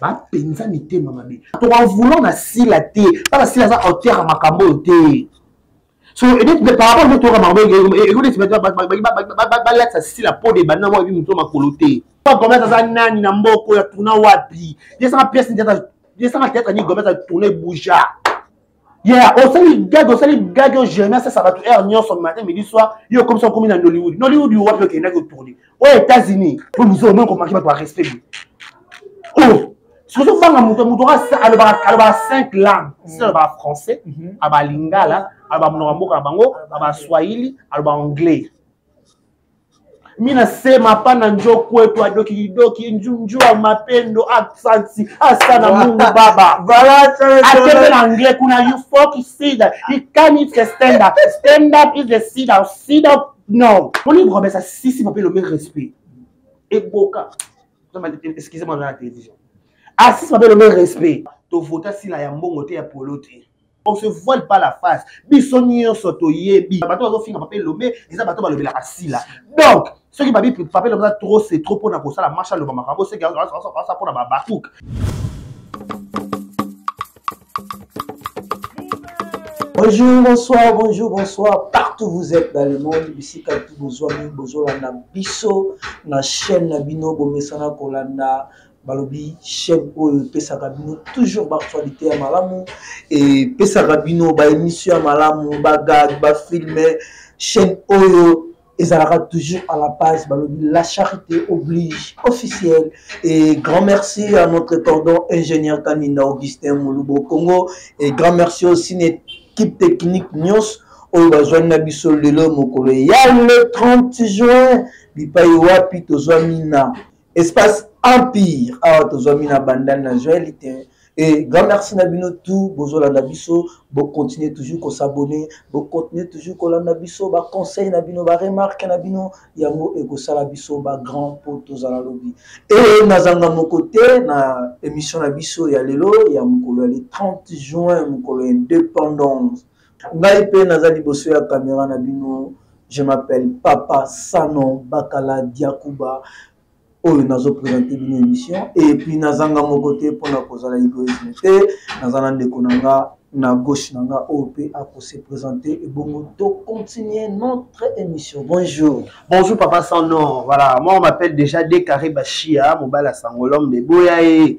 bapenza mitema mabe tokavoulan na sila te mpaka sila aza auteur ya makambo oyo te so par rapport nde toyoka makambo ekoneti balatisa sila po de banda mwa ebi moto makolo te gomes aza nani na mboka oyo atourna wapi yesaka pièce yesaka théâtre nini gomes atourna ebouja ya osali gage osali gage oyo jeremia asasa bato heure nyonso matin midi soir yo okomisa okomi na nollywood nollywood yo wapi okendaki otourne oyo etats-unis po mizo omoni komaki bato ya respect bo oyo oh, soki ozobanga moto moto alobaka cinq langue si alobaka français mhm. aba lingala aloba monoko ya mboka na bango aba swahili aloba anglais mina sema pana njo kwetu adokidoki njua mapendo absansi asana mungu baba akende na anglais kuna you folk sida he can if the stand up stand up is the sida sida non moni kobesa sisi mape lomi respect eboka excusez moi na la télévision asisi mape lomi respect tovota sila ya mbongo te ya polo te on se voile pas la face biso nyonso toyebi bato bazofinga pape elombe eza bato balobelaka sila donc soki babi pape elombe eza trop se trop mpona kosala marche aloba makambo soki asa mpona babakuk Bonjour, bonsoir, bonjour, bonsoir. Partout vous êtes dans le monde, ici quand vous avez besoin de biso, na chaîne na bino, bomesana kolanda, balobi chaîne oyo epesaka bino toujours baactualité ya malamu epesaka bino baémission ya malamu bagag bafilme chaîne oyo ezalaka toujours à la base balobi la charité oblige officiel et grand merci à notre cordon ingénieur kaninda augustin molubo congo et grand merci aussi na équipe technique nyonso oyo bazwani na biso lelo mokolo ya le 30 juin bipai wapi tozwami na espace empire awa tozwami na bandal na joel te e grand merci na bino tout bozolanda biso bocontinue toujours kosabone bocontinue toujours kolanda biso baconseil na bino baremarke na bino yango ekosala biso bagrand mpo tozala lobi e nazanga moko te na émission na biso ya lelo ya mokolo ya le 30 juin mokolo ya indépendance ngai mpe naza liboso ya kamera na bino je m'appelle papa sanon bakala diakuba oyo nazopresente bino émission epuis nazanga moko te mpo na kozala egoisme te naza na ndeko na nga na gauche na nga oyo mpe akose présente ebongo tocontinue notre émission bonjour bonjour papa sanon voilà moi on m'appelle déjà decarré bashia mobali ya sangolome de boya ye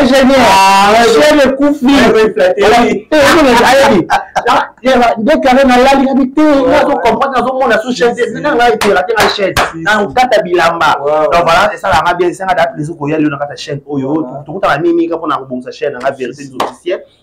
ingénieur chene kufi nde kare nalali na bitei nazo comprendre nazo mona sous chaise nanga ngai tela te na chaise na kata bilamba donc voilà esala nga bien esanga da plaisir koya lelo na kata chaîne oyo tokutana mimi ka pona kobongisa chaîne nga vérité des officiels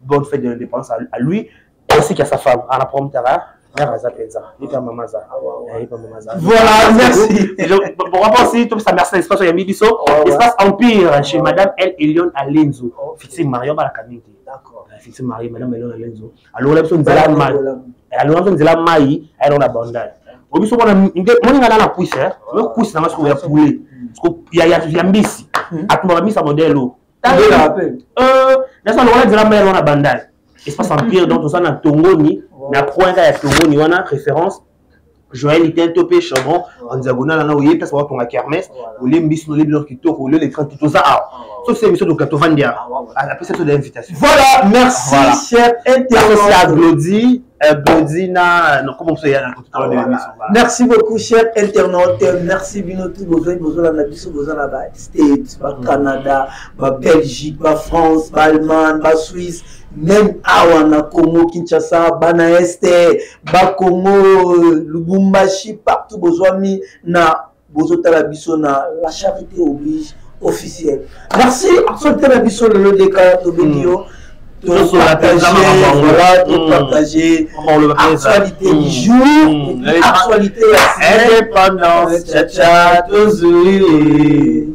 bonne fête de l'indépendance à, à lui ainsi qu'à sa femme à la prompteur hein? mère aza mpenza yepe mama aza yepe mama aza voilà merci pourquoi pas aussi topesa merci na espace oyambi biso espace empire chez madame el elion alenzo fixi mario balaka mingi te fixi mario madame elion alenzo alongola biso nzela mai alongola biso nzela mai ayelongo na bandal o biso mona moninga na na puise oyo kuisi nanga sikoyo ya poulet ya mbisi atumba bamisa modele oyo tala pe euh na sa lokola dira mère wana bandal espace empire donc ça na tongoni na point ya tongoni wana référence Joël était un topé chambon en diagonale na oyebi place ba tonga kermesse olembi biso olembi leur kitoko olio les 30 tout ça ah sauf c'est monsieur dokato vandia après cette invitation voilà merci cher internet Glody Euh, Benzina, non, comment vous avez raconté ah, voilà. Merci beaucoup, cher internaute. Merci, Binotou, Bozoy, Bozola, Nabiso, Bozola, ba States, ba mm. Canada, ba Belgique, ba France, ba Allemagne, ba Suisse, même awa na Congo, Kinshasa, Bana Este, ba Congo, Lubumbashi, partout, Bozoami, na bozotala biso na la charité oblige officiel merci absolute na biso lelo deka tobengi yo topartage actualité du jour actualité ya indépendance chacha tozui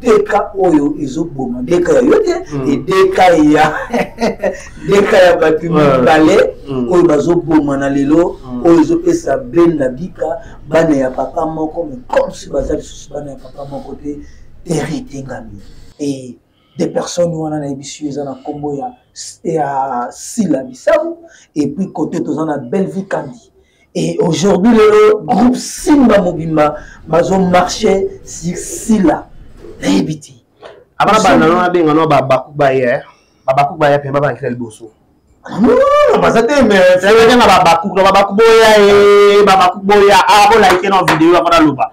deka oyo ezoboma deka ya yo te mm. edeka ya deka ya bato mibale mm. oyo bazobomana lelo mm. oyo ezopesa benda bika bana ya papa moko me comsi baza lisusu bana ya papa moko te tere etengami e de personnes wana nayebisi yo eza na nkombo ya sila bisabu epuis kote toza na bellevue kandi Et aujourd'hui, le groupe Simba Mobimba, ils ont marché sur Silla. Rébiti. Abana bana no abenga no ba bakuba ye. Ba bakuba ye pe ba bakira liboso. Non, baza te mais c'est vrai na ba bakuba ba bakuba ye, ba bakuba ya a ko like no vidéo ba na loba.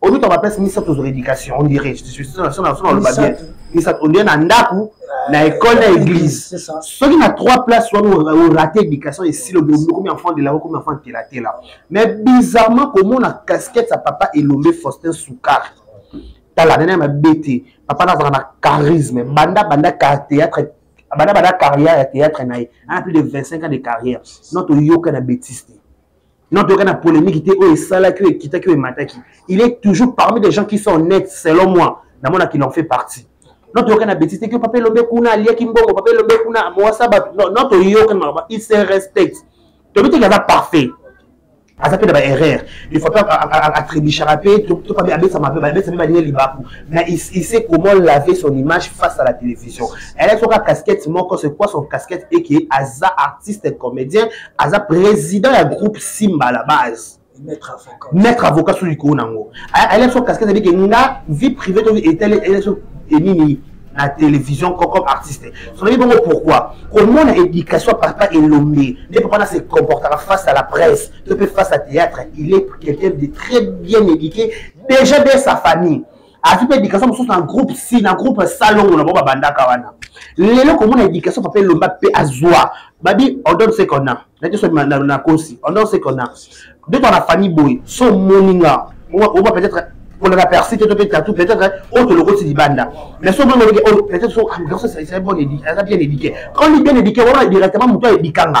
omi to ba place misato zo éducation on dirait je suis sur la sur la sur la bien misato on dirait na ndaku na école na église soki na trois places wana o raté éducation et si le bobo comme enfant de la comme enfant de la tela mais bizarrement comment na casquette sa papa elombe Faustin Soukar tala nene ma bête papa na na charisme banda banda théâtre banda banda carrière ya théâtre na ye a plus de 25 ans de carrière notre yoka na bêtise non toyoka na polémique te oyo esalaki oyo ekitaki oyo emataki il est toujours parmi des gens qui sont honnêtes selon moi namona qu'il en fait partie non toyoka na betise teke papa elombe kuna aliaki mbongo papa elombe kuna mowasa bato non toyoka maloba il se respecte toyebi teke aza parfait aza mpe na baerreur ifo mpe atribishaka mpe topabe abesama mpe abesa mpe baninga libaku mais il sait comment laver son image face à la télévision elle soka casquette moko c'est quoi son casquette eke aza artiste comédien aza président ya groupe simba à la base maître avocat soki likolo na yango ayelaki so casquette abike nga vie privée to etali ayelaki so enini na télévision comme artiste soki bongo pourquoi komona éducation papa elombe nde papa na se comportaka face à la presse to mpe face à théâtre il est quelqu'un de très bien éduqué déjà de sa famille azwi mpe éducation mosusu na groupe si na groupe salongo na bango babandaka wana lelo komona éducation papa elomba mpe azwa babi on donne ce qu'on a nati so na kosi on donne ce qu'on a de toi na famille boye so omoni nga oba peut-être koleka persi te to mpe tatu peut-être oyo tolokoti libanda mais so omoni oleke oyo peut-être so ah, aza bien éduqué quand li bien éduqué wana directement moto ayebikanga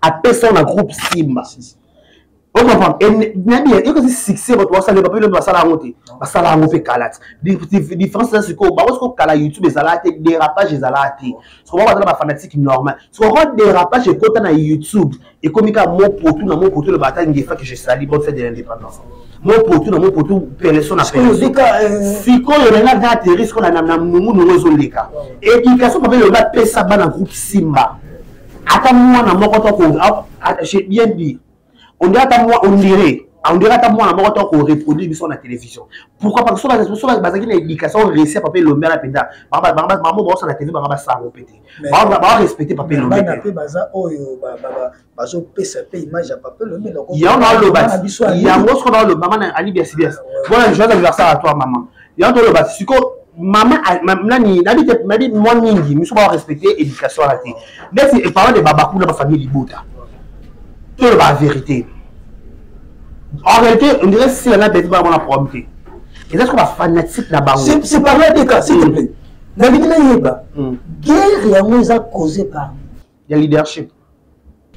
apesa na groupe simba okompanayebi succès bato basala bape lobi basala yango te basala yango mpe kala te différence eza sikoyo bango sikoyo kala youtube ezalaka te dérapage ezalaka te sikoyo bango bazala bafanatique normal sikoyo kaka dérapage ekota na youtube ekomi kaka mopotu na mopotu loba ata ngefa que je sali bonne fête de l'indépendance mopotu na mopotu peleso na peleso sikoyo nanga nta ateri sikoyo na nungunungu ezoleka éducation bape lobi bapesa bana groupe simba ata mwana moko to j'ai bien dit on dirait ata mwa on dirait on dirait ata mwana moko to ko reproduire biso na télévision pourquoi parce que soki soki bazaki na éducation réussi papa elombe ala mpenza maman baosa na tv banga basango mpe te ba respecter papa elombe te mpe baza oyo bazopesa mpe image ya papa elombe yango naoloba yango soki naoloba mama na alibi ya sibias bona joyeux anniversaire à toi maman yango toloba siko mama nani nabi te nabi mwa mingi miso ba respecter éducation wana te ndeti eparlant de babakula bafamille libota toloba vérité en réalité on dirait sila na beti bana mwana problème te eza siko bafanatique na bango c'est parlant de cas s'il te plaît nalingi nayeba guerre yango eza causé par ya leadership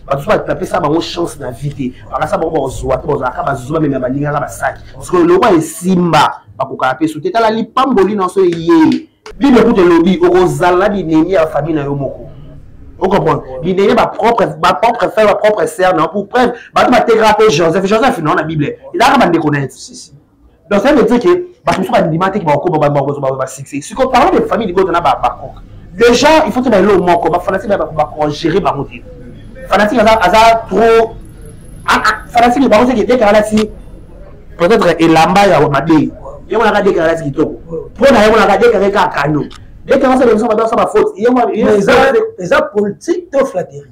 bato so bapesa bango chance na vie te bakasa bango bakozwa te bazalaka bazuzu bamemya balingaka basaki sikoyo lokwa esimba bakokaka mpe so te tala lipamboli na so eye bible kutu elobi okozala na binemi ya famille na yo moko okomprendre binemi bapropre bapropre frère bapropre sœur na pour preuve bato batekaka mpe joseph joseph nao na bible ezalaka bandeko na ye donc ça veut dire que bato mosusu bandima te bakokoma basuccès siko parlant de famille libota na bacoke déjà il faut toyeba eloo moko bafanatique na bakogere bango te fanatique aza trop ah, ah, fanatique bango seke dekaka alati peut-être elamba ya mabe ye monaka dekaka alati kitoko mpo na ye monaka dekaka kaka kano dekaka sala biso bato asala faute eza politique to flatterie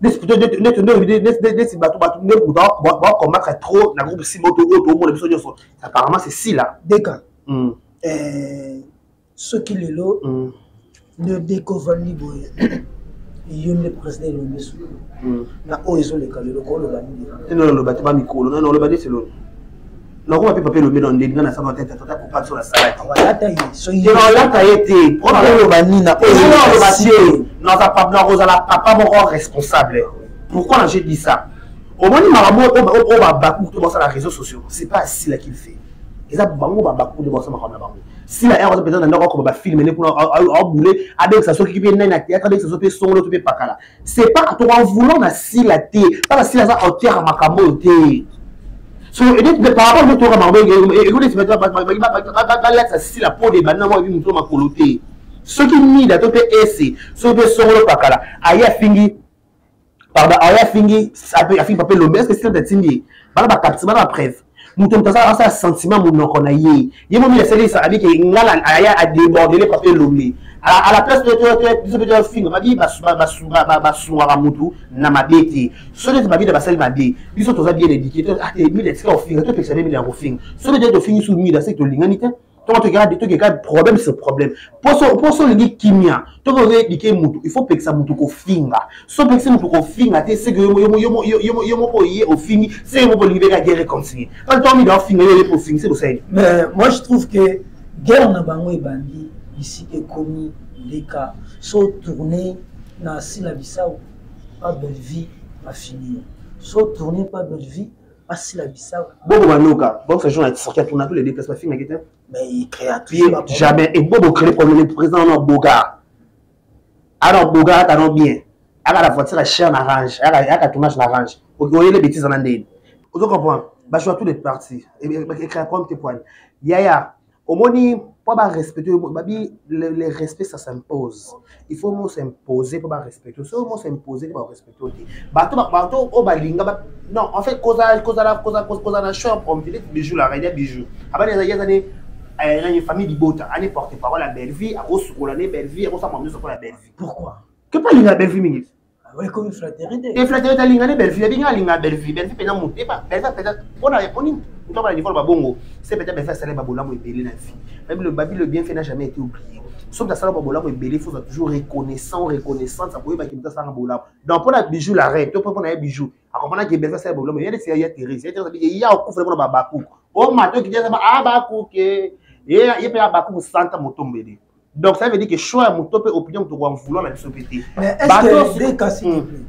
neti bato bato nde moto bakomaka trop na groupe simba oto oyo toomona biso nyonso apparemment c'est sila deka hmm. eh, soki lelo hmm. nde deka ovandi boye yo nde président elombi su hmm. na oyo ezoleka lelo kooloba nini oloba te bamikolo nani oloba neti lolo nakoma mpe pape elombe na ndeli nga nasala te tata kopa biso nasalaki nakolata ye te mpona nini naoloba te nakozala papa moko responsable pourquoi na je dis ça omoni makambo oyo babaku to basala réseau sociaux c'est pas sila qu'il fait eza bango babaku nde basala makambo na bango sila yako aza mpenza na ndako akoma bafilme ne kuna abule abengisa soki mpe nani na théâtre abengisa so mpe songolo to mpe pakala c'est pas toka voulant na sila te pala sila aza auteur ya makambo oyo te so par rapport nde toyoka makambo ekonesi balatisa sila po de banda mwa ebi moto makolo te soki mida to mpe ese soki mpe songolo pakala aye afingi pardon aye afingi afingi pape lombe eske sila tatindi ye bana bakapti bana bapreve moto moto asala asala sentiment monoko na ye ye momi asalisa abi ke ngala aya adebordele papier lombe à la place biso mpe tofinga babi basungaka motu na mabe te so neti babida basali mabe biso toza bien édike mila esika kofinga topekisa nde mila ya kofinga so neti tofingi su mila seke tolingani te toko tokeka tokeka problème sur problème poso poso olingi kimia toko oyedike mutu il faut pekisa mutu kofinga so pekisi mutu kofinga te seke yo moko oye ofingi se yo moko olingi beka ge réconcilie parce que toamida ofinga yo oyepe ofingi se kosali mais moi je trouve que guerre na bango ebandi bisika ekomi leka so tourne na sila bisau pa bellevie bafinio so tourne pa bellevie basila bisau bobo banoka box agent ya sorti pour tous les deux places ba finga kete mais il créatrice jamais et bobo créer problème le président na boga ana boga ata no bien aka la voiture cher na range aka aka tournage na range okoyele bêtise na ndeni ozo comprendre ba choix tous les parties et créer problème te point yaya omoni mpo barespecte yo babi le respect ça s'impose il faut mo s'impose mpo barespecte soki mo s'impose te barespecte yo te bato bato oyo balinga non en fait kozala kozala kozala na champ comme tu dis bijou la reine bijou abani ezali ezali nani famille libota ani porte parole ya bellevie akosukola ne bellevie akosala mamuso mpo ya bellevie pourquoi ke mpo alinga bellevie mingi ekomi flateri te e flateri te alinga nde bellevue abinga alinga bellevue bellevue mpenza moto eba bellevue mpenza mpona oni moto abana niveau na babongo se mpenza bellevue asala babolamu ebele na vie babilo babilo bien fait na jamais été oublié soki asala babolamu ebele faut toujours reconnaissant reconnaissance akoyebaki moto asalanga bolamu donc mpona bijou la reine to mpe mpona ye bijou akomana ke bellevue asala babolamu yede ya therese ya therese abike ya okufele mpona babakuku omatoki te abakuke ye mpe abakuku santa motombele donc ça veut dire que choix ya moto mpe opinion moto koa vouloir na biso mpe te bato hmm.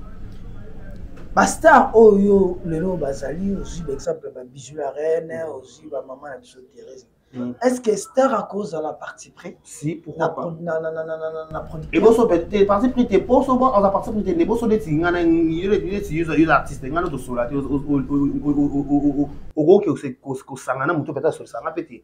bastar oyo lelo bazali ozwi baexemple babisu la reine ozwi bamama na biso therese hmm. est ce que star akozala parti près si pourquoieboso te parti prix te po sobo aza parti prix te nde boso neti nga neti yo artiste nga notosola te okoki kosangana moto mpe azosolisanga mpe te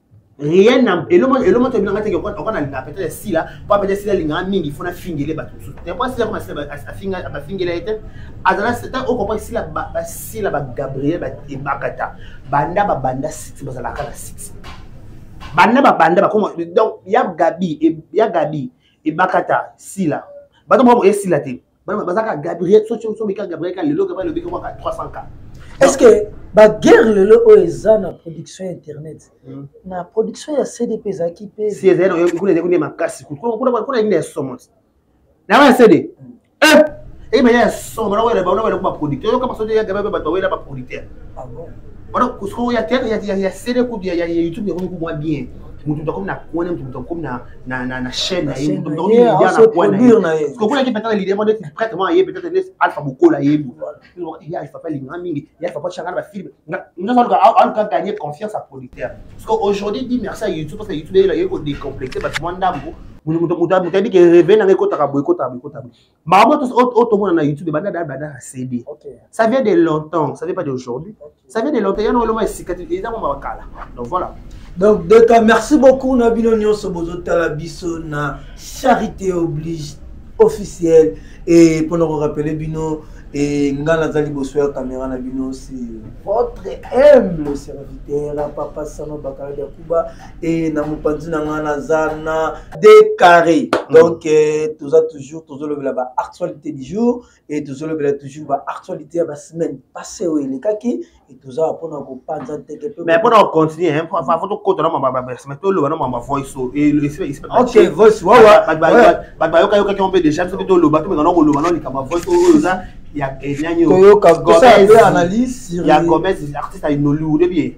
rien na eloma eloma to bilanga teke kwa kwa na linga peut-être sila pa peut-être sila linga mingi fona fingele bato mususu te kwa sila kwa sila afinga ba fingela ete azala seta o comprendre sila ba sila ba Gabriel ba ebakata banda ba banda six bazala kana six banda ba banda ba koma donc ya Gabi ya Gabi ebakata sila bato mo esila te bana bazaka gabriel sosombika gabriel ka lelo gabriel obika mwaka 300 ka est ce que baguerre lelo oyo eza na production ya internet hmm. na production ya cdp ezalaki mpe si ezali nayo kuna ezali kuna makasi kuna nini ya somo na ya cd hmm. eh! eyebaya ya somo na wele baona wele kuma producteur yoka basoto ya gabriel bato bawela ba producteur ah wana kusoko ya théâtre ya cd kutu ya youtube yakomi kumwa bien mutu mutu akomi na kone mutu mutu akomi na na na na chaîne na ye donc ni ya na kwa na ye ko kuna ki peut-être l'idée moi d'être prêtre moi ye peut-être les alpha bokola ye bu ya alpha pas linga mingi ya alpha pas changa ba film nga nga zo ka al ka gagner confiance à producteur parce que aujourd'hui dit merci à YouTube parce que YouTube il a ko décomplexer parce que moi ndambo mutu mutu mutu abi ke rêver na ngekota ka boycott boycott Maman, tout autre monde dans YouTube, banda da banda CD. Ça vient de longtemps, ça vient pas d'aujourd'hui. Ça vient de longtemps, il y a un moment ici, il y a un moment Donc voilà. Donc, Deka, merci beaucoup, Nabino Nyonso, Bozo Talabiso, na Charité Oblige officielle. Et pour nous rappeler, Bino, et nga nazali liboso ya kamera na bino si votre humble serviteur papa sano bakala ya kuba e na mopanzi na ngai naza na decarré mm. donc eh, toza toujours tozolobela ba actualité du jour e tozolobela toujours ba actualité ya basemaine passé oyo elekaki e tozala mpona kopanza nteke mais mpona kocontinue fo tokota na mabasemaine toloba na mama voice oyook voice wawabato bayokayokaki yango mpe déjà biso mpe toloba tomeka na koloba na likambo ya voice oyo oza ya enani oyo toyoka kosala mpe analyse ya commerce artiste ya nollywood ebie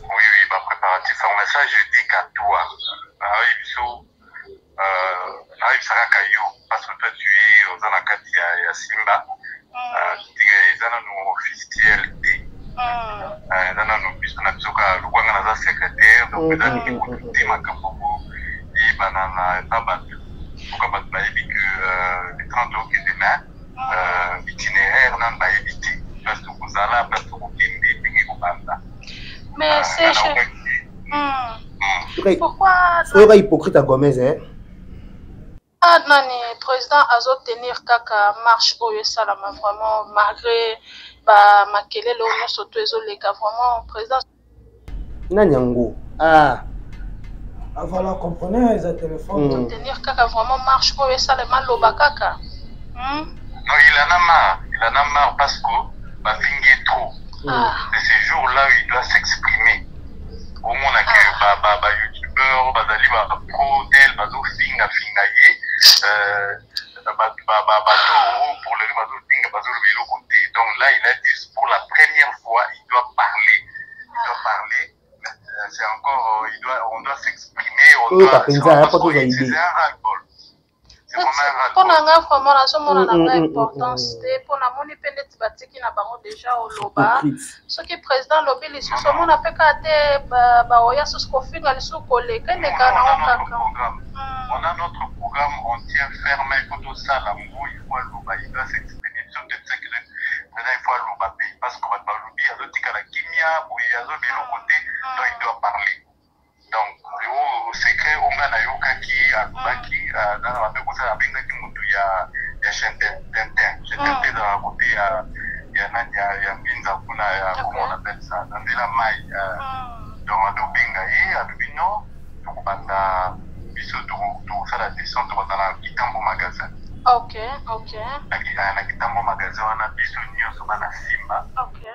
Oui, oui, ba préparatifs yango mais ça je dis qu'à toi nayebi biso nayebisa kaka yo parce que toi tu es oza na kati ya, ya simba Ah, tika eza nanu officiel te Ah, eza nanu biso na biso kaka lokola nga naza secrétaire donc eza ndenge kutu te makambo yango eyebana na na bato soka bato bayebi que euh, le 30 okende mais soyoka hypocrite ya gomez eh? Ah, nani président azotenir kaka marche oyo esalama vraiment malgré bamakelele oyo nyonso to ezoleka vraiment président nani yango ah avala compreneur eza telefone hmm. tenir kaka vraiment marche oyo esalema loba kaka hmm? no il en a marre il en a marre parce que bafingi ye trop hmm. ah. de ce jour là où il doit s'exprimer omona ke ah. bayoutubeur bazali bapro tel bazofingafinga ye euh, toyoka mpenza ya mpo tozwa idee mpo na ngai vraiment nazomona na ngai importance te mpo namoni mpe neti batiki na bango deja oloba soki president alobi lisusu omona mpe kaka te baoya susu kofinga lisusu koleka eleka nango kaka on a notre programme on tient ferme il faut tosala ngo il faut aloba il doit s'exprimer biso nde tisaki le président il faut aloba mpe parce que bato balobi azotikala kimia boye azo biloko te donc il doit parler donc oyo secret oyo ngai nayokaki alobaki nana babe kosala abengaki motu ya ya chaine tintin chaine tintin ezalaka kote ya ya nani ya ya mbinza kuna ya comment on appelle ça na nzela mai donc azobenga ye alobi non tokobanda biso tokosala descente tokobanda na kitambo magasin okay okay na kitambo magasin wana biso nyonso bana simba okay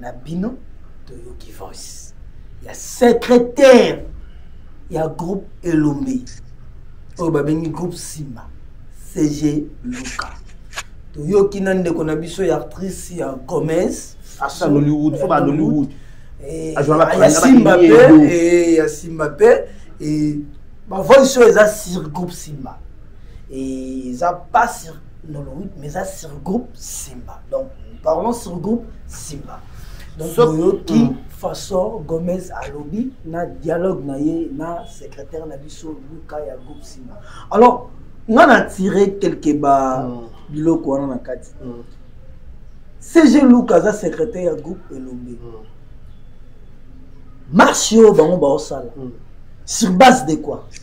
na bino toyoki voice ya secrétaire ya groupe elombe oyo babengi groupe simba cg luka toyoki na ndeko na biso ya actrice ya commerce asa nollywood fo ba nollywood eh, ya simba mpe eh, ya simba mpe eh, bavoice oyo eza sur groupe simba eza pas sur Nollywood mais eza sur groupe Simba donc parlons sur groupe Simba donc oyoki mm. façon Gomez alobi na dialogue na ye na secrétaire na biso Luka ya groupe Simba alors nga na tire quelque ba mm. biloko wana na kati mm. CG Luka aza secrétaire ya groupe Elombe mm. marche oyo bango baosala mm. sur base de quoi mm.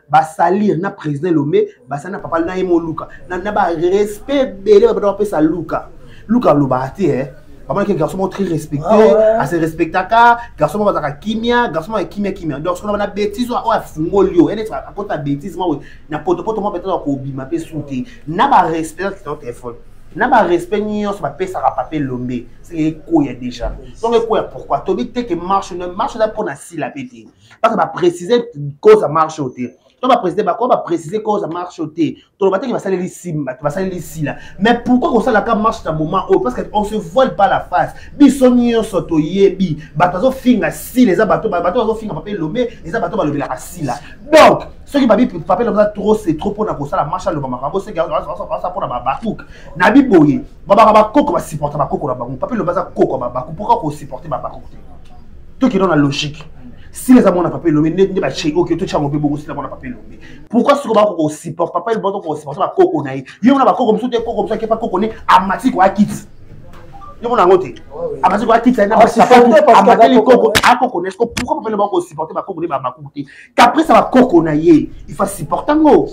basalir na président lombe basali na papa na ye moluka na, na barespect ebele babanda bapesa luka luka alobaka te eh. bamonaki garçon moko très respecté ah ouais. ase respectaka garçon moko azalaka kimia garçon moko ya kimia kimia donc soki na bétise oyo afungoli yo ene akota bétise moko na potopoto moko betaka kobima mpe su te na barespect kitao telefone na barespect nyonso bapesaka pape lombe seke ekoya déjà donc ekoya pourquoi tobi te ke marche marche eza mpo na sila mpe te baka baprécise cause ya marche oyo te to baprécise bako baprécise cause ya marche oyo te toloba teke basaleli simba te basaleli sila mais pourquoi kosalaka marche na moment oyo parce que on se voile pas la face biso nyonso toyebi bato bazofinga sila eza bato bato bazofinga pape elombe eza bato balobelaka sila donc soki babi pape elombe aza trop se trop mpona kosala marche aloba makambo soki asa mpona babakuk na biboye babaka bakoko basupporta bakoko na bango pape elombe aza koko ya babakuk pourquoi kosupporte babakuk te tokenda na logique sila eza mwana papa elombe nde nde batie oke totyango mpe bongo sila mwana papa elombe pourkui soki bako kosupporte papa elombe toko kosupporte bakoko na ye yo mona bakoko mosusu te koko mosusu akepa koko ne amati koya kiti yo mona yango te amati koya kiti amateli koko akoko ne pourkui papa elombe bako kosupporte bakoko ne bamakuku te caprice ya bakoko na ye ifa supporta ngo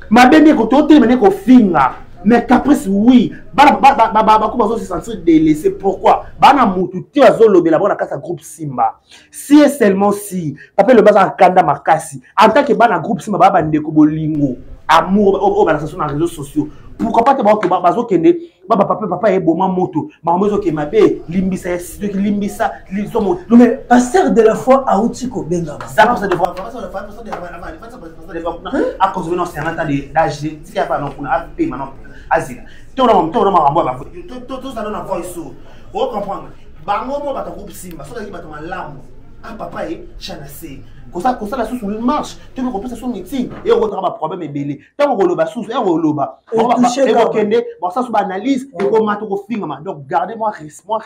mabe nde ekototelema nde ekofinga mais caprice oui bana bako bazo se sentir délaissé pourquoi bana mutu te azolobela bango na kati ya groupe simba si e seulement si papa elobi aza akanda makasi en tant que bana groupe simba baa bandeko bolingo amour oyo balakisa so na réseaux sociaux pourquoi pas te bazokende baba papa papa eboma moto makambo ezoke mabe limbisa ya soki limbisa liso moto mais pasteur de la foi auti kobengama akozwi na osiyana ta dage tika yapa na kuna apema na azila tona makambo ya batozala na voice o oh, comprendre bango mo bato groupe simba soki azali bato malamu a ah, papa ye chanase kosala susu marche toki kopesa so meeting eyokotaka baproblème ebele ntango koloba susu ya koloba ekokende basasu baanalyse ekomata okofingama donc garde mwa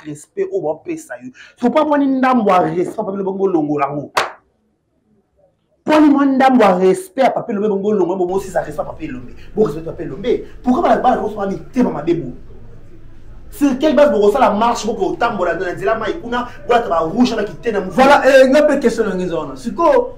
respect oyo bapesa yo sopa mwani ndambo ya respect papelo bongo olongola yango poni mwa ndambo ya respect ya pape elombe bongo olongola bongo osisa respect ya pape elombe borespect pape elombe pourkui balabala kosala mitema mabe boye sur quelle base bokosala marche boko otambola na nzela mai kuna bwata barouge na kitena voilà eh, nga mpe question na ngenza wana sikoyo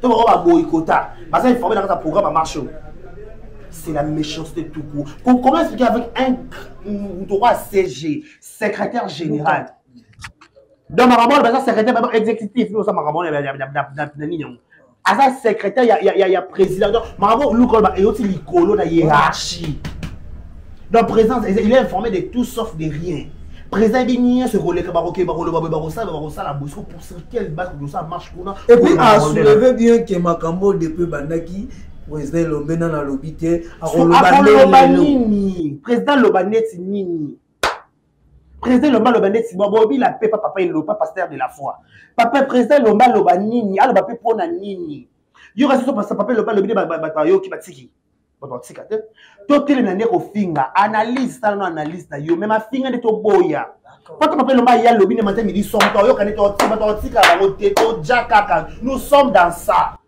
to bango baboyikota baza informe na kati ya programme ya marche c'est la méchanceté tout court qu'on commence expliquer avec un droit cg secrétaire général donc makambo wana baza secrétaire baba exécutif yo oza makambo wana na nini yango aza secrétaire ya président donc makambo luka oloba eyoti likolo na hiérarchie donc président il est informé de tout sauf de rien président ebi nyonso ekoleka bakokeba koloba boye bakosala bakosala boye soko pour sur quelle base bakosala marche et puis a soulever bien que makambo de peu bandaki président elombe nani alobi te akoloba nini président loba neti nini président elombe aloba neti bobila mpe pa papa elopa pasteur de la foi papa président elombe aloba nini aloba mpe mpona nini yo kasi so papa elombe alobi nde bato bayoki batiki bato batika te totelema nde kofinga analyse tala no analyse na yo me mafinga nde toboya poto mape elomba ya lobi nde mate midi somme toyoka nde totika totika bango te toja kaka nous sommes dans ça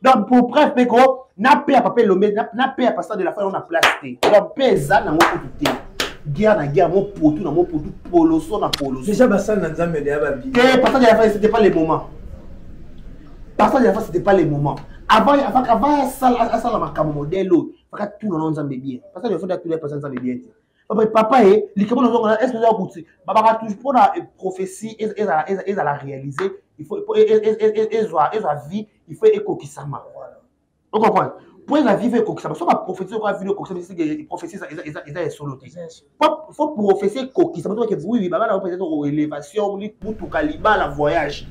donc pour preuve mpe ko na pe ya papa elombe na pe ya pasteur de la foi na place te donc mpe eza nango kutu te guerre na guerre mopotu na mopotu poloso na poloso déjà basali na nzambe deya babili te pasteur de la foi c'était pas le moment parfois la fois c'était pas le moment avant avant avant asala asala makambo modèle oyo faka tuna na nzambe bien parce que faut tuna pesa nzambe bien te papa papa e likambo nazonga na est-ce que oza kuti babaka toujours mpo na prophétie ezala ezala réaliser il faut ezwa ezwa vie il faut ekokisama o comprendre mpo eza vive ekokisama so baprofesi okoa vino ekokisamaprofesi eza ya solo te fo profesi ekokisama tobake oui babana oyo peut-être o élévation motuka libala voyage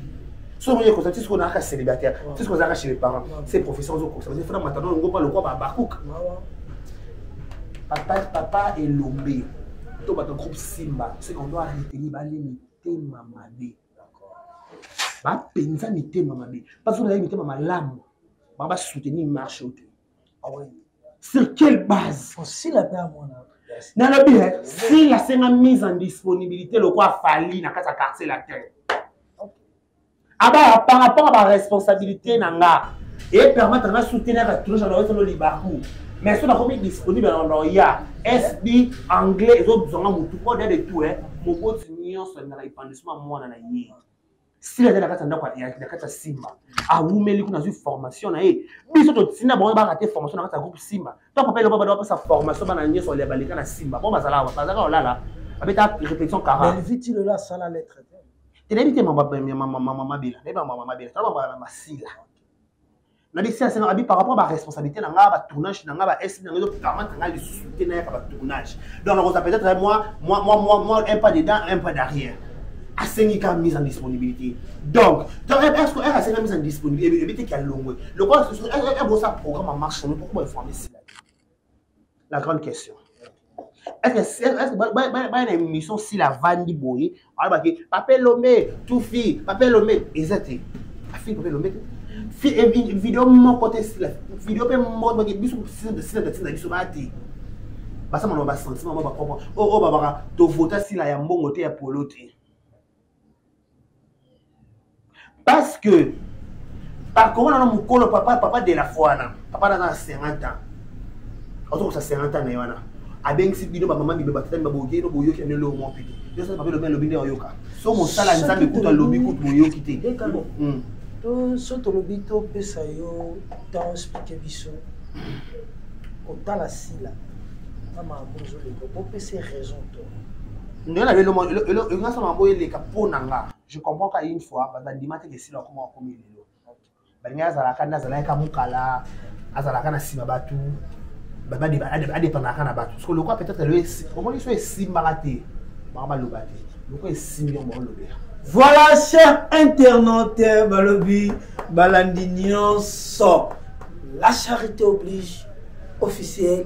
so okoki ekokisama ti soki ozalaka célibataire ti soki ozalaka chez les parents se profesi ozo kokisama te fona matano yango mpa lokwa babakuka papa papa elombe to bato groupe simba ce qu'on doit retenir balimite ma mabe bapenza mitema mabe bazo na ye mitema malamu ba ba soutenir marche oyo te ah sur quelle base osila mpe amona nalobi sila asenga mise en disponibilité lokola afali na kati ya quartier latin abaya par rapport a baresponsabilité na nga epermettre na soutenaka toujours anaoyesano libaku mais soki nakomi disponible na loya sb anglais ezobzwanga motu oda de tout moboti nyonso alingaka epandisa heureusement mwana na ye sila aza na kati ya ndako na kati ya simba awumeli kuna azwi formation na ye biso totina bango baka te formation na kati ya groupe simba to papa eloba bana bapesa formation bana nyonso balia baleka na simba bo bazala awa bazalaka kolala babeta répétition karaelviti lelo asala lettre te nayebi te mama mabela nayebi mama mabela tala mama masila na bisi asengaka bi par rapport ba responsabilité na nga ba tournage na nga ba SB na nga donc vraiment na nga lisusu te na yaka ba tournage donc nakoza peut-être eh, moi moi moi moi moi un pas dedans un pas derrière asengi ka mise en disponibilité donc donc est ce que elle asengi mise en disponibilité et puis te ki alongwe lokola ebosa programme en marche pourquoi informer sila la grande question baya na émission sila avandi boye alobaki pape lombe tufi pape lombe eza te afini pape lombe te eh, video moko te sila video mpe moko bake biso sila tatina biso baya te basama na basentiment ma bakompo oyo oh, oh, babaka tovota sila ya mbongo te ya polo te parce que bakomona na mokolo papa papa de la foi wana papa naza na 50 ans ozokosa 50 ans na ye wana abengisi bino bamama bibe batata bibe boyoki no boyoki na lelo moko te nyonso papa elobi alobi nde oyoka so mosala ya nzambe kutu alobi kutu boyoki te hmm. to so tolobi topesa yo temps explike biso kotala sila na makambo ozoleka bopesa raison to ndenge lelo nga sama boye leka po na nga je comprends ka une fois bato bandima te kesila akoma akomi lelo balingi azalaka nde azalaki ka mokala azalaka na nsima bato adependaka na bato parce que lokwa peut-être lelo omoni so esimbaka te bango baloba te lokwa esimbi yango baolobela voilà cher internaute balobi balandi nyonso la charité oblige officielle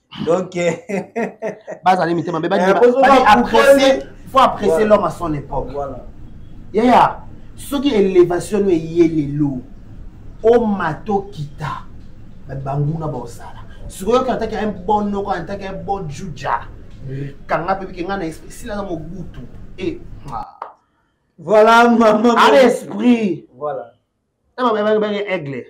donc bazali mitema mbe eh, faut apprécier l'homme à son époque voilà. yaya soki élévation no eye lelo omata okita banguna baosala sikoyo oyoki antaki un bon noko antaki un bon juja kanga mpe bike ngai na esprit sila na mobutu e voilà maman ana esprit voilà ebababenge aigle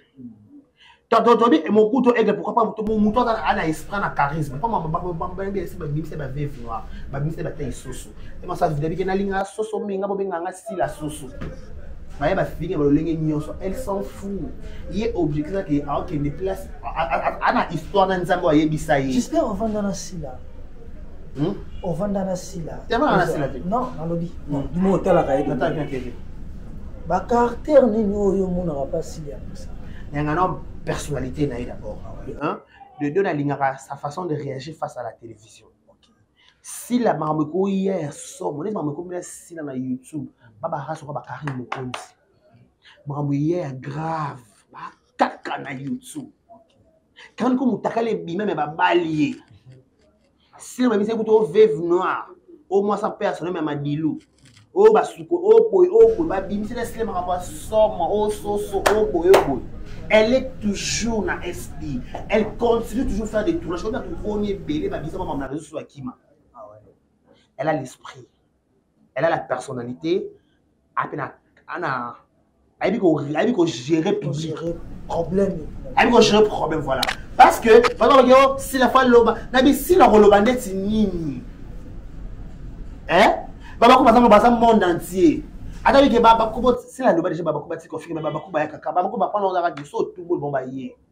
totobi mokutu aigle pourquoi pas moto moto aza ana esprit na charisme mpo babenge esi babimisa baveve noir babimisa batei soso emaso avidabike nalinga soso minga bobenga nga sila soso baye bafinga balolenge nyonso elle s'en fou ye objectif ake aokende place ana histoire na nzambe ayebisa ye j'espère ovanda na sila Hmm? ovanda na sila non nalobi hmm. dimo otalaka ye bacaractère nini oyo omonaka mpa sila ya mposa yanga na personnalité na ye d'abord ah de deux nalingaka sa façon de réagir face à la télévision sila makambo ekoya ya somo neti makambo ekomela sila na youtube babarasuka bakari mokonzi makambo eya ya grave kaka na youtube kandi ko mutakala ebima me babali ye sina babisa kutu o veve noir o mwasa mpe ya sonome ya madilu oyo basuko oyo boye oyo boye babimisela esile makambo ya somo oyo soso oyo boye oyo boye elle est toujours na fb elle continue toujours faire des tournage oyo bato boni ebele babisa makambo na réseau soso ya kima ah elle a l'esprit elle a la personnalité ape na ana ayebi ko ayebi ko gérer public problème ayebi ko gérer problème voilà parce que baza baki yo sila fa loba na bisila koloba ndeti nini hein babako baza baza monde entier ata bike babakubo sila loba deja babakuba tikofinga babakuba ya kaka babakuba pona ozaka biso tumbu bomba ye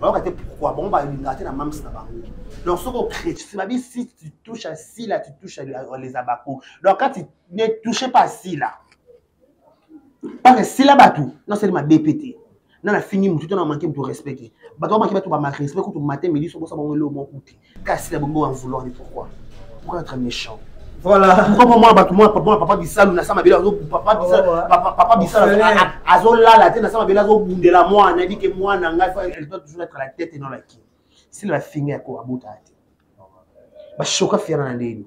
bayoka te pourquoi bango balingaka te na mamsi na bango donc soki okretisi babi si tu touche à sila tu touche à les abaco donc quand tu ne touche pas sila parce que sila bato nasali mabe mpe te na nafingi motu to na manke motu respect te bato bamaki bato bamaki respect kutu mate midi sobosa bango eloo moko te kasi na bongo en vouloir ni pourquoi pourquoi être méchant voilà mukoko mwa bato mwa mwa papa bisalu na sama bela papa bisalu papa papa bisalu azolala te na sama bela azobundela mwana ebi ke mwana ngai fa elle doit toujours être la tête et non la queue sila bafinga ya ko abota te bashoka fiana na ndeni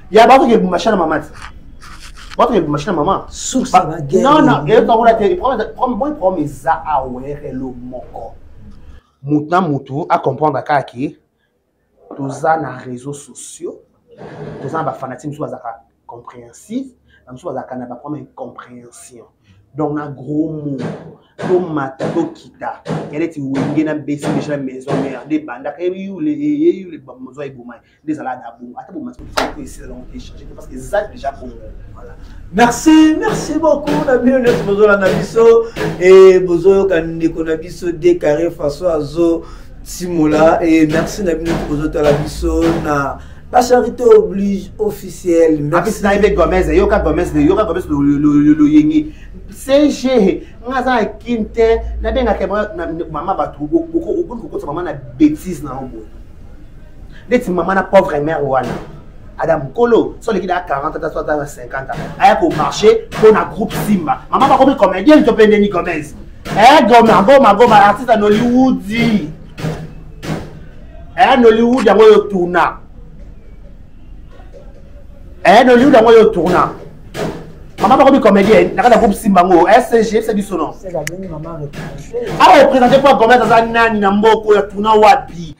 ya bato ke lubumbashi na mama te bato ke lubumbashi na mama source Ba- ba guerre non non eyoka kuna te problème- problème- moi problème eza awere lo moko motu na motu acomprendre kaka ke toza na réseaux sociaux toza na bafanatike mosusu bazalaka compréhensive na mosusu bazalaka na baproblème incompréhension donc na gros mot tomata tokita yaleti wenge na besi deja na maison mère nde ebandaka eyule eyule bamozwa eboma ye nde ezalaka na bongo ata bomati ko esila longo te change te parce que eza déjà bongo voilà merci merci beaucoup na bino nyonso bozolanda biso e bozoyoka ndeko na biso de carré façon azo timola e merci na bino nyonso bozotala biso na La charité oblige officielle. Merci. Na ebe Gomez, yoka Gomez, yoka Gomez lo lo lo lo yengi. CG, nga za kinte, na benga kema na mama batu, boko boko boko mama na bêtise na obo. ndeti mama na pauvre mère wana ada mokolo so aleki na 40 ata so ata na 50 aya komarche mpo na groupe simba mama bakomi comédienne to mpe ndeni gomez eh goma goma goma artiste ya nollywood eh nollywood yango oyo tourna eh nollywood yango oyo tourna mama bakomi comédienne na kati ya groupe simba yango scg se biso no awa représente mpo ya gomez aza nani na mboko ya tourna wapi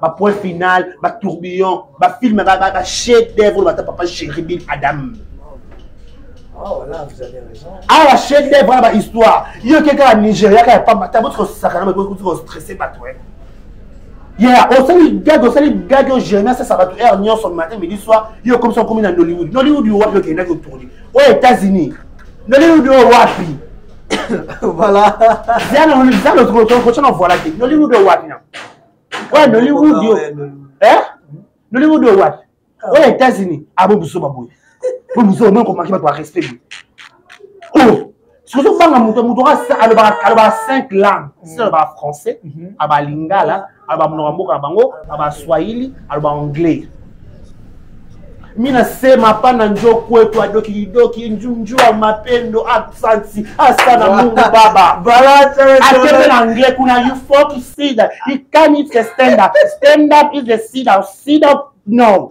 bapoint final batourbillon bafilme bachef devre bata papa chéribin adam awa chef devre wana bahistoire yo ke kaka nigeria kaka pamba ta botiko sakana bakoki kostresse bato ya osali gage osali gage oyo jeremi asasa bato heure nyonso matin midi soir yo okomisa okomi na nollywood nollywood yo wapi okendaki otourni oyo états-unis nollywood oyo wapi voilà zana on zana ko ko ko na voilà te nollywood o wapi na wa nollywood yo eh nollywood o wapi ah. o états-unis abo buso baboye bo buso mo ko maki ba respect oh soki ozobanga moto moto alobaka 5 langue soki alobaka français aba lingala aloba monoko ya mboka na bango aloba swahili aloba anglais mina sema pana njo kwetu adokidoki njunjua mapendo absansi asana mungu baba atebe na anglais kuna you fall to see that you can't stand up stand up is the seed of seed of no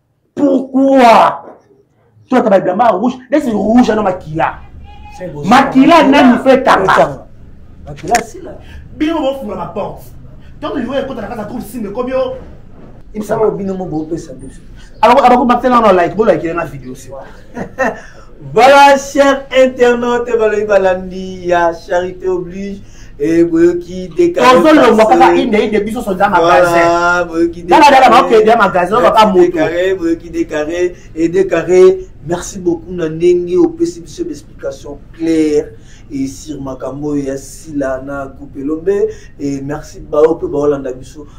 pourquoi tolata babilamba ya rouge neti rouge ano makila makila nani fe tanga bino bofunga baporte ntango liwa ekota na kati ya groupe simba ekomi o ebisaka bino mo bopesa biso abako bakitela wana like bolakile na video se voilà cher internaute balobi balandi ya charité oblige Eh, boyoki tozo longwa kaka inde inde biso soza magasindaladala bakokende ya magasin oyo baka motoboyoki decare e decare merci beaucoup na ndenge opesi biso baexplication claire e sur makambo oyo ya sila na coupe elombe e merci bao mpe baolanda biso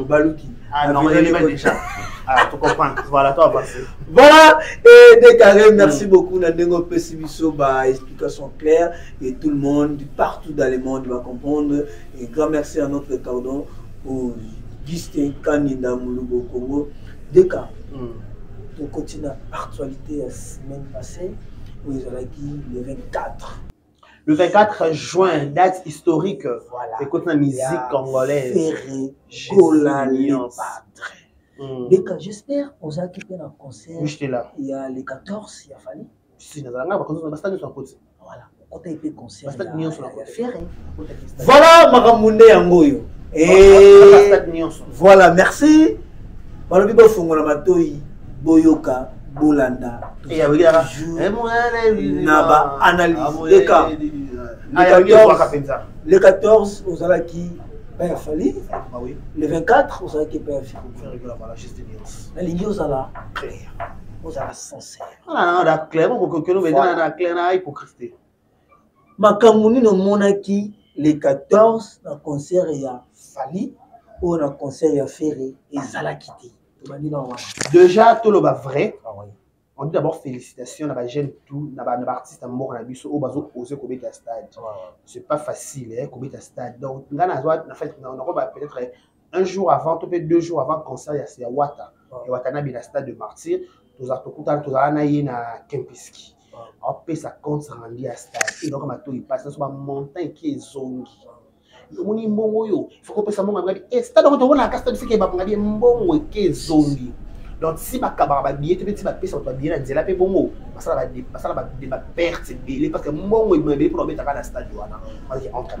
obaluki voilà et déclaré merci mm. beaucoup na ndenge opesi biso ba explication claire et tout le monde partout dans le monde va comprendre et grand merci à notre cordon pour Justin Kaninda Mulubo Congo DK, mm. tokoti na actualité ya semaine passée oyo ezalaki le 24 le 24 juin date historique voilà. ekoti na musique congolaise gola lion padre mm. deka j'espère ozalaki mpe na concert ya le 14 ya fali si nazala ngai bakonzi basta nyonso nakoti voilà okota ye mpe conseil basta nyonso nakoti ferre voilà makambo nde yango oyo eh, voilà merci balobi bofongola matoi boyoka bolanda eh, eh, na baanalyse leka le 14 ozalaki père fali le 24 ozalaki père fico nalingi ozala clair ozala sens makambo nini omonaki le 14 na concert ya fali oyo na concert ya ferre ezalaki te déjà toloba vrai ah on dit d'abord félicitations na bajeune tout na baartiste ya mboka na biso oyo bazo ose kobeta stade c'est pas facile eh, kobeta stade donc nga nazwa na fait nakoba peut-être un jour avant to mpe deux jours avant concert ya, ya wata ah. ya watanabe na stade de martyr tozala tokutana tozala na ye na kempiski ah. apesa compte rendu ya stade eloko matoi mpasi nyonso bamontant eki ezongi ah. omoni mbongo oyo foko opesa mbongo abengadi e eh, stade yango tomonaka ka stade fike babongadi ye mbongo eki ezongi donc si bakabaka babiye te mpe ti bapesa bato babiye na nzela mpe bongo basala baperte ebele parce que mbongo ebima ebele mpo na obetaka na stade wana entre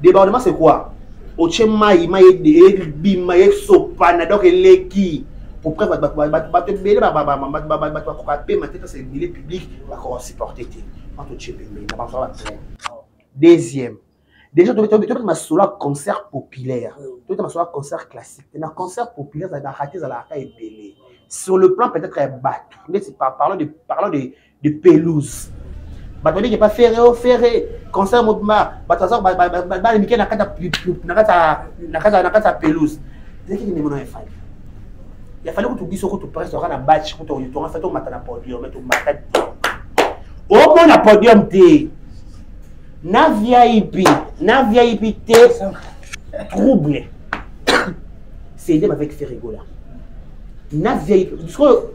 débordement c'est quoi otie mai mai ebima esopana donc eleki pour preuve bato ebele bato bakoka pema te kasi ebele public bakoka supporte te bato otie pembeni na bango batrain deuxième déjà tobeta masolo ya concert populaire tobeta masolo ya concert classique te na concert populaire ezalaka te ezalaka ebele sur le plan peut-être ya bato ndeti parlons de de pelouse bato babiki epa ferre o oh, ferre concert mobima bato aza bana mike na kati ya pelouse ezalaki ndenge mona efali yafali kutu biso kutu presse oka na batch kutu oyotonga fe tomata na podium tomata te omona podium te na vip na vip te trouble c'est idem avec ferregola na vip sikoyo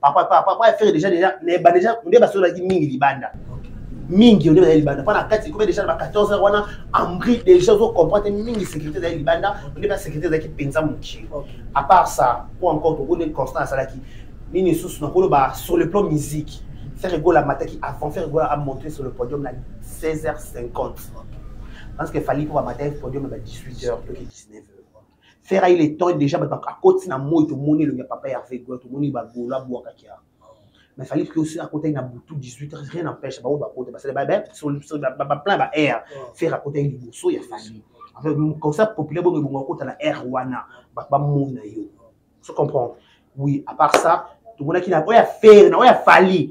papa papa papa affaire déjà déjà mais ba déjà on ba sola ki mingi libanda mingi on ba libanda pana kati ko déjà ba 14 heures wana ambri déjà zo comprendre mingi sécurité da libanda on ba sécurité da ki penza muki à part ça pour encore pour une constance à la qui nini sous na kolo ba sur le plan musique faire gola mataki avant faire gola a monter sur le podium na 16h50 parce que fallait pour matin podium ba 18h to 19h Ferre il est temps déjà ba akoti na moi to moni le papa Hervé Gola to moni ba Gola boaka kia. Mais fallait que aussi akota na butu 18 heures rien n'empêche ba ba kota ba sala ba ba ba plein ba air Ferre akota ni boso ya famille. Enfin comme ça populaire bongo bongo akota na air wana ba ba mona yo. Tu comprends? Oui, à part ça, tout le monde qui n'a pas fait, n'a pas fallu.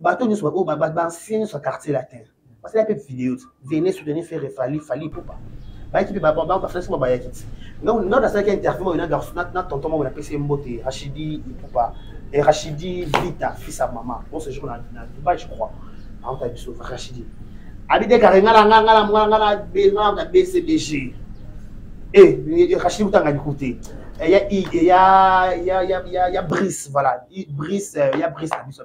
bato nyonso baoyo bansien nyonso ya quartier latin basala mpe video venez soutenir faire fali fali pupa bayaki mpe bafrance moko bayaki ti nga nasalaki interview oyo na tonton moko napesi ye mbote rachidi pupa eh, rachidi vita fils ya mama on se jour na dubai je crois aota biso rachidi abi dekare ngala nga ngala ngala ngala ngala na bcbg e rachidi kutanga liku te ya ya ya ya ya brise voilà brise ya brise na biso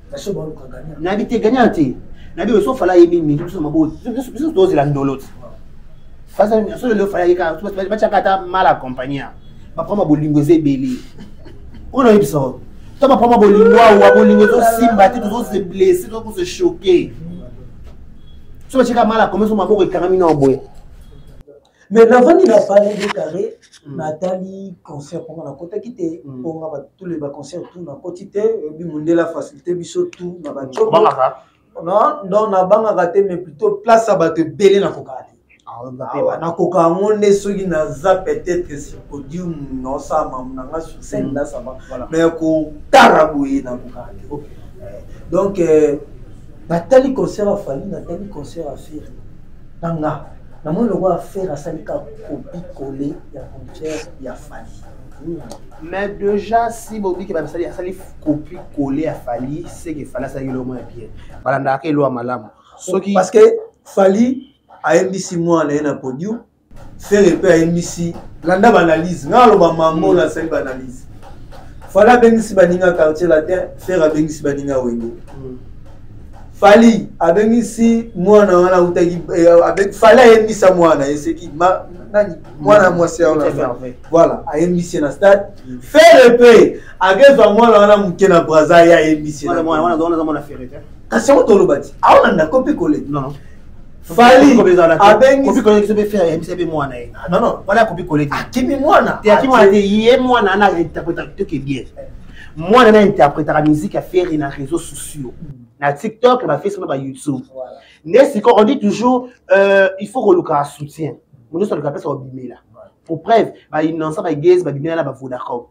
nayebi te gagna te nayebi oyo sofala ayebi mingi biso mabo biso tozela ndolo te soki lelo fala yeka batiaka ata mal accompagna baprama bolingo eza ebele oyo nayebisa oyo to baprama bolingo awa bolingo ezosimba te tozose blesse tozose choke so batiaka mal accompagna so maboko ekangami na boye mais navandi na palais de carré hmm. natali concert mponga nakotaki te mponga hmm. tous les baconcert tout nakoti te oyebi mondela facilité biso tout na bacoko donc nabangaka te mais plutôt place ya bato ebele nakokaka te ah, nakoka yango nde soki naza peut-être sur podium nosama na nga sur scène hmm. nasama mais kotala boye nakokaka te eh, donc euh, natali concert afali natali concert afiri na nga Na moni lokola Ferre asali ka copie coller ya concert ya Fally. Mais déjà si bobi ke basali asali copie coller ya Fally, c'est que Fally asali lomo ya bien. Balanda ke loa malamu. Soki parce que Fally ayembisi mwa na ye na podium, Ferre pe ayembisi landa ba analyse. Nga loba mango na sali ba analyse. Fally abengisi baninga quartier latin, Ferre abengisi baninga wenge. Mm. fali abengisi mwana wana autaki eh, fali ayembisa mwana eseki nani mwana mwasi ya wana voilà ayembisi na stade mm. fere mpe akezwa mwana wana moke na braza ye ayembisi kasi yango toloba ti aona ndako mpe kole fali abengisiakimi mwana akimi mwana te ye mwana ana interpretateur ke bien mwana na interpretaka musique ya ferre na réseau sociaux na tiktok na bafacebook na bayoutube nde sikoyo on dit toujours euh, il faut kolukaka soutien moto nyonso aluka apesa kobimela pour preuve bainonsa bagese babimela na bavodacom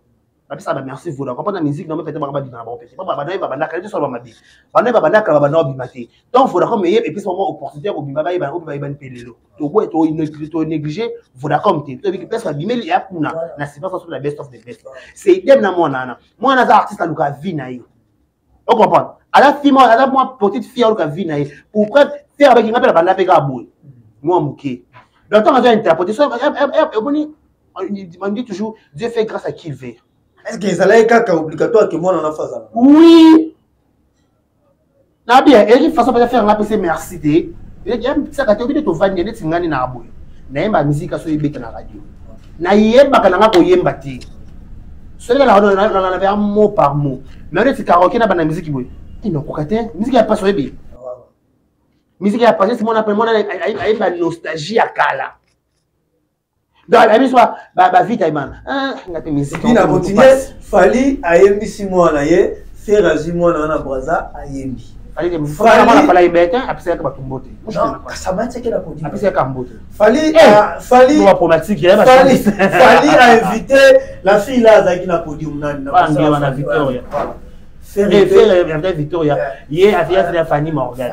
bapesaka bamerci vodacom mpona musique namo pete baka babima na bango pete babanaye babandaka te solo bamabe banaye babandaka babanda kobima te donc vodacom eye epesa bango opportunité ya kobima bayebana oyo bayebani mpe lelo toboye tonéglige vodacom te toyebi place babimeli ya kuna na sipa soso na best of the best c'est idem na mwana wana mwana aza artiste aluka vie na ye ocomprendre aza fi mwana aza mwa petite fille aluka vie na ye pour preuve fere abaki nga mpe na banda mpe kaka boye mwa moke donc ntango azo interprete so omoni on dit toujours dieu fait grâce à qui il veut est ce que ezalaki kaka obligatoire ke mwana na fazala oui na bien eki façon baza faire nga pese merci te yamisaka te obide tovandi neti ngani na boye nayemba mizika so ebeta na radio nayembaka nanga koyemba te soki nalanaveya mot par mot mais neti karoke na bana miziki boye inokoka te miziki ya pasi oyebi miziki ya pasi simona mpe mona ayemba nostalgie ya kala donc na biso bavita ebana ah, nga te mizikina continue fali ayembisi mwana ye fere azwi mwana wana braza ayembi apesaka bato mbote ainvite la fille la azalaki na podium nanina victoria ye aviasina fanny morgan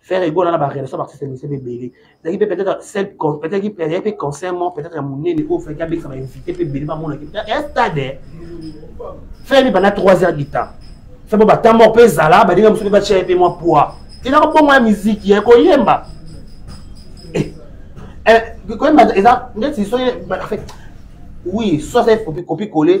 Ferre Gola na ba relation ba système c'est belé. Zaki peut être seul peut être qui peut être conseil mon peut être mon nene au fait avec ça va inviter peut belé ba mona qui peut être stade. Ferre pendant 3 heures du temps. Ferre ba temps mort pe zala ba dinga musuki ba tshia pe moi poids. Tina ko bongo ya musique ya ko yemba. Eh. Eh ko yemba eza ndeti so en fait oui, soit c'est copie coller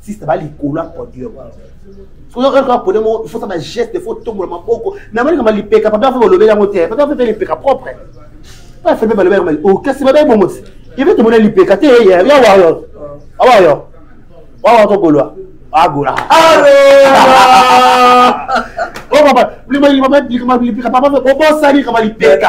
sista ba likolo ya podium sozoka podium moko ifosa bageste fo tombola maboko namalika malipeka papa fo balobeli yango te papa fo mpe lipeka propre pa fo mpe balobeli yango mali okasi babe bongo te ive tomona lipeka te ya wayo awayo wawa togolwa agola obosani kama lipeka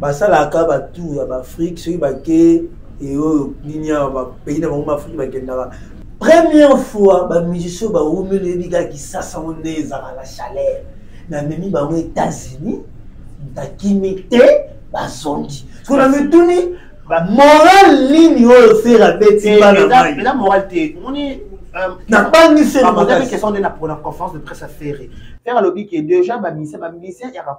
basalaka batour ya baafrike soki bake eoyo nini awa bapays na bango baafrike bakendaka première fois bamusicien bawumeli oyebi kaka kisasa ngo nde ezalaka na chaleur namemi bango états-unis nakimi te bazongi soki namituni moral nini oyo fere abeti eh, bana mai nabangi fere makasi question nde na conférence de presse ya fere fere alobi ke déjà bamisia bamisia yaka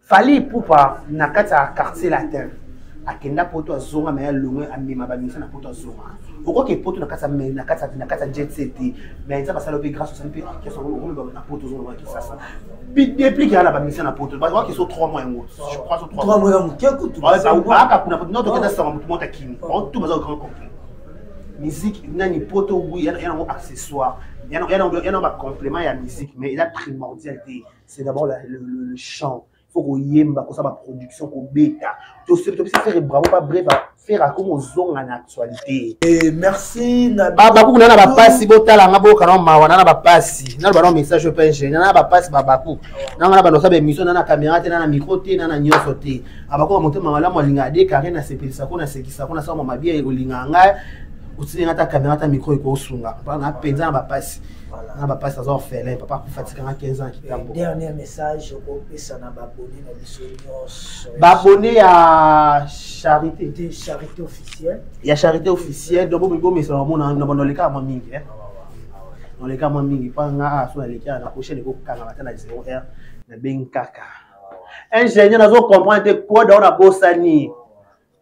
fali ipupa na kati ya quartier latin akenda poto azonga me alongwe amema bamisa na poto azonga okoki epoto na kati ya jet set me nzambe asala mpe grâce osali mpe ekesa okoloba na poto ozoloba kisasa deplique ya na bamisa na poto bazwaki so 3 mois yango aka kuna no tokenda sanga motu mota kimi tu baza grand complet musique nani poto wi yanango accessoire yana bacomplément ya musique mais eza primordial te c'est d'abord le, le, le chant faut koyemba kosala baproduction kobeta toseli tobisi fere bravo ba bref fere akomi ozonga na actualité eh, merci babakuku nana bapasi botalanga bokana mawa nana bapasi nano bana message oyo penge nana bapasi babaku nanga na banosa baémission nana caméra te nana micro te nana nyonso te abakuka motema malamu alinga adekare nasepelisaka ko nasekisaka ko nasala mwa mabia olinga ngai otilinga ata caméra ata micro ekosunga mpona mpenza na bapasi Voilà. Na ba pasta za orphelin, papa akufa tikanga 15 ans kitambo. Dernier message okopesa na ba abonné na biso nyonso. Ba abonné ya charité. De charité officielle. Ya charité officielle, donc bobo mesa na mona na bono leka mwa mingi eh. Na leka mwa mingi pa nga aso na leka na prochaine ko kanga bata na 0 heure na bengkaka. Ingénieur nazo comprendre te quoi daona bosani.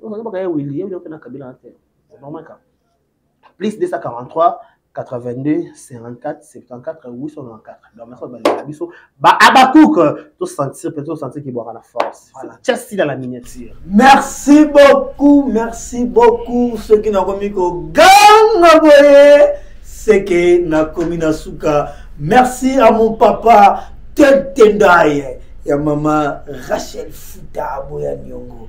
oza bakaya wili ye oyoka na kabila na te c'est normal ka plus 243 82 54 74 894 donc merci balinga biso ba abakouk to sentir peut to sentir ki boka na force voilà chasi dans la miniature merci beaucoup merci beaucoup ceux qui n'ont commis ko ganga boye c'est que na commis na suka merci à mon papa Tentendaye ya mama Rachel Futa aboya niongo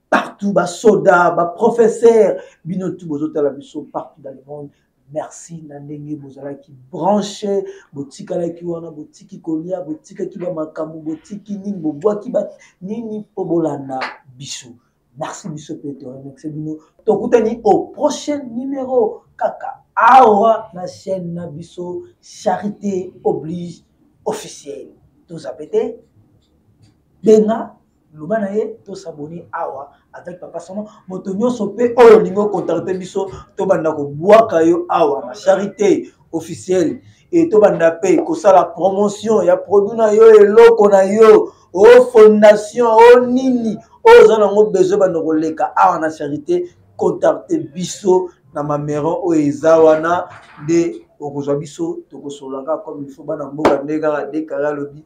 partout ba soda ba professeur bino tout bozotala biso partout dans le monde merci na ndenge bozalaki branche botikalaki wana botiki kolia botikaki bamakambo botiki nini bobwaki ba nini mpo bolanda biso merci biso mpe toremercie bino tokutani au prochain numéro kaka awa na chaîne na biso charité oblige officielle tozape te benga loba na ye to s'abonner awa avec papa somo moto nyonso mpe oyo olingi ocontacte biso tobanda kobwaka yo awa na charité officielle e tobanda mpe kosala promotion ya produit na yo eloko na yo o oh, fondation o oh, nini oyo oh, oza nango besoin banda koleka awa na charité contacte biso na mameron oyo eza wana nde okozwa biso tokosolaka comme ilfo bana mboka nde kaka dekare alobi